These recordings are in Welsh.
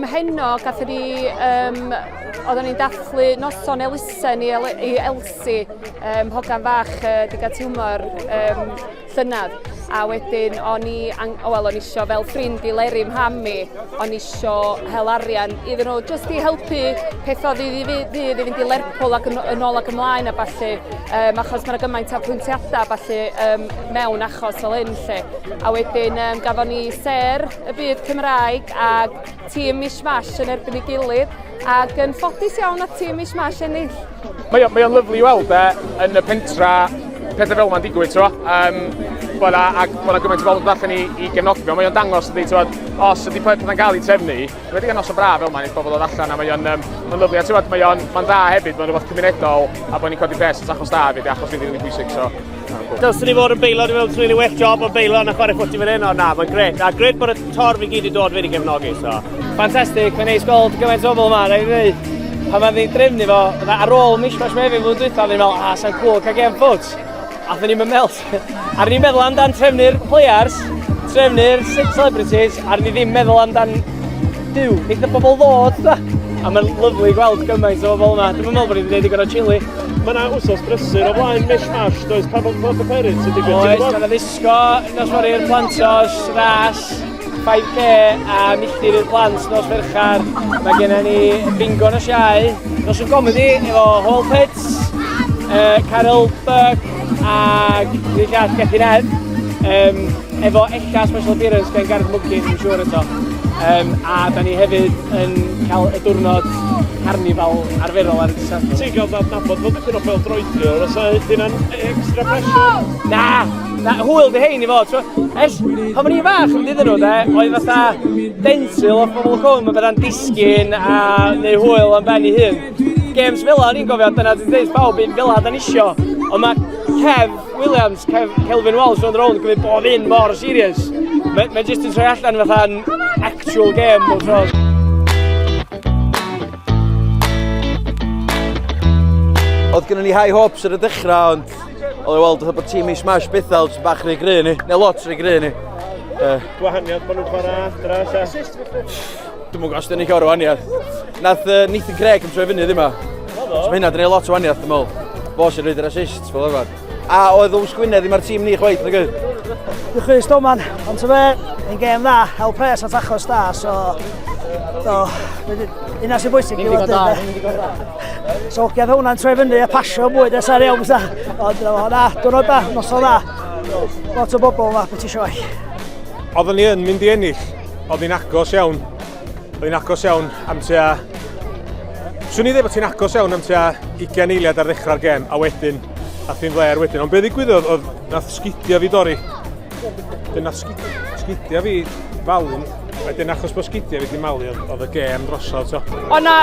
Mhenno, gathon ni yym oeddan ni'n dathlu noson elusen i El- i Elsi yym hogan fach yy diga tiwmor yym llynedd a wedyn o'n i ang- o wel o'n i isio fel ffrind i Leri mham i o'n i isio hel arian iddyn nhw jyst i helpu peth o ddydd i ddy- ddydd i fynd i Lerpwl ac yn o- yn ôl ac ymlaen a ballu yym achos ma' 'na gymaint o apwyntiadau a ballu yym mewn achos fel hyn 'lly a wedyn yym gafon ni sêr y byd Cymraeg a tîm Mishmash yn erbyn ei gilydd ac yn ffodus iawn at tîm Mishmash ennill. Mae o'n mae lyflu i weld e, yn y pentra pethau fel yma'n digwydd, ti'n um, bod a, ac bod yna gymaint o bobl yn allan i, i gefnogio. Mae o'n dangos ydy, ti'n os ydy pethau'n cael ei trefnu, wedi gan os o braf fel yma, nes bobl oedd allan, a mae o'n um, ma lyflu. A ti'n mae o'n dda hefyd, mae'n rhywbeth cymunedol, a bod ni'n codi pres at achos da hefyd, achos fydd yn bwysig. So. Dylswn i fod yn beilo, dwi'n meddwl dwi'n ei well job o beilo na chwarae ffwti fan hyn, ond na, mae'n gret. A gret bod y torf i gyd i dod fe wedi gefnogi, so. Fantastic, mae'n neis gweld gymaint o bobl yma, rhaid i ddweud pan mae'n ni'n drefnu fo, ar ôl mishmash mae fi fod dwytha, fi'n meddwl, a, sa'n cool cael gem ffwt. A dyn ni'n melt. a ni'n meddwl amdan trefnu'r players, trefnu'r celebrities, a ni ddim meddwl amdan Duw, eitha pobl ddod, da! A mae'n lyflu gweld gymaint o bobl yma. Dwi'n meddwl bod ni'n gwneud i gorau chili. Mae yna wsos brysur o flaen Mish Mash, does pa bod bod y perin sy'n digwydd? Oes, mae yna ddisgo, nos fory'r plantos, ras, 5k a milltir i'r plant nos ferchar. Mae gennym ni bingo nos iau, nos yn gomedi efo Hall Pits, uh, Carol Burke, Ac ni'n llall Gethin Edd, um, efo ella special appearance gen Gareth Mwcyn, yn siŵr eto. Um, a da ni hefyd yn cael y diwrnod carnifal arferol ar y dysan. Ti'n cael dad nabod bod dipyn o fel droedio, os a hynna'n extra pressure? Na, na, hwyl di hein i fod. Ers, pan o'n i'n fach yn dydyn nhw, de, oedd fatha densil o'r pobl cwm yn bydda'n disgyn a neu hwyl am ben i hun. Games fel o'n i'n gofio, dyna dwi'n dweud pawb un fel da nisio. Ond mae Kev Williams, Kev, Kelvin Walsh o'n rôl yn gwneud bob un mor serious. Mae'n ma jyst yn troi allan fatha'n actual game bob tro. Oedd gennym ni high hopes ar y dechrau, ond oedd ei weld bod tîm i smash bethau, sy'n bach rhy gry ni, neu lot rhy gry ni. Gwahaniad bod nhw'n chwarae adra, Dwi'n mwyn os dyn ni cael rhywaniaeth. Nath uh, Nathan Craig yn troi fyny ddim yma. So mae hynna dyn ni lot o waniaeth, dwi'n meddwl. Fo sy'n rhaid yr assist, fel arfer. A oedd Ows Gwynedd ddim ar tîm ni chwaith, nag oedd? Dwi'n chwys doman, ond ti'n fe, yn gêm dda, hel pres at achos da, so... Do, yna sy'n bwysig i fod yn... So, gedd hwnna'n troi fyny a pasio mwy nes ar iawn, ond dyna fo, na, dwi'n da, noson dda. Lot o bobl yma, beth eisiau eisiau. Oedden ni yn mynd i ennill, Oedd hi'n agos iawn. Oedd hi'n agos iawn am tua... Swn i ddweud bod hi'n agos iawn am tua 20 eiliad ar ddechrau'r gem, a wedyn, a thi'n ddair wedyn. Ond beth ddigwyddodd oedd nath sgidio fi dori. Wedyn nath sgidio fi falun. Wedyn achos bod sgidio fi di malu oedd y gem drosodd. So. O na,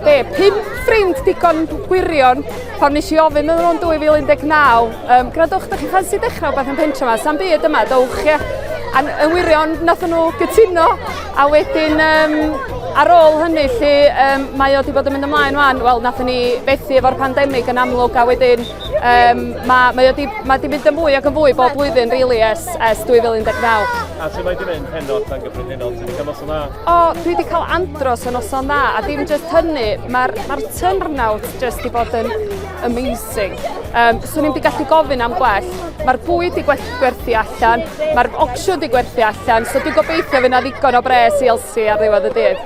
be, pum ffrind digon gwirion pan nes i ofyn yn o'n 2019 Um, gradwch, ydych chi'n ffansi dechrau beth yn pentra yma? Sam byd yma, dowch, ie. A yn wirion, nath nhw gytuno, a wedyn, um, ar ôl hynny, lle um, mae o wedi bod yn mynd ymlaen wan, wel, nath ni fethu efo'r pandemig yn amlwg, a wedyn, um, mae, mae, di, mae di mynd yn fwy ac yn fwy bob blwyddyn, really, ers, ers 2019. A sut mae di mynd heno tan gyffredinol? Ti'n cael noson dda? O, dwi wedi cael andros o noson dda, a dim jyst hynny, mae'r ma, r, ma r turnout jyst wedi bod yn amazing. Sing. Um, swn i'n di gallu gofyn am gwell. Mae'r bwyd di gwerthu allan, mae'r opsiwn di gwerthu allan, so dwi'n gobeithio fyna ddigon o bres i Elsie ar ddiwedd y dydd.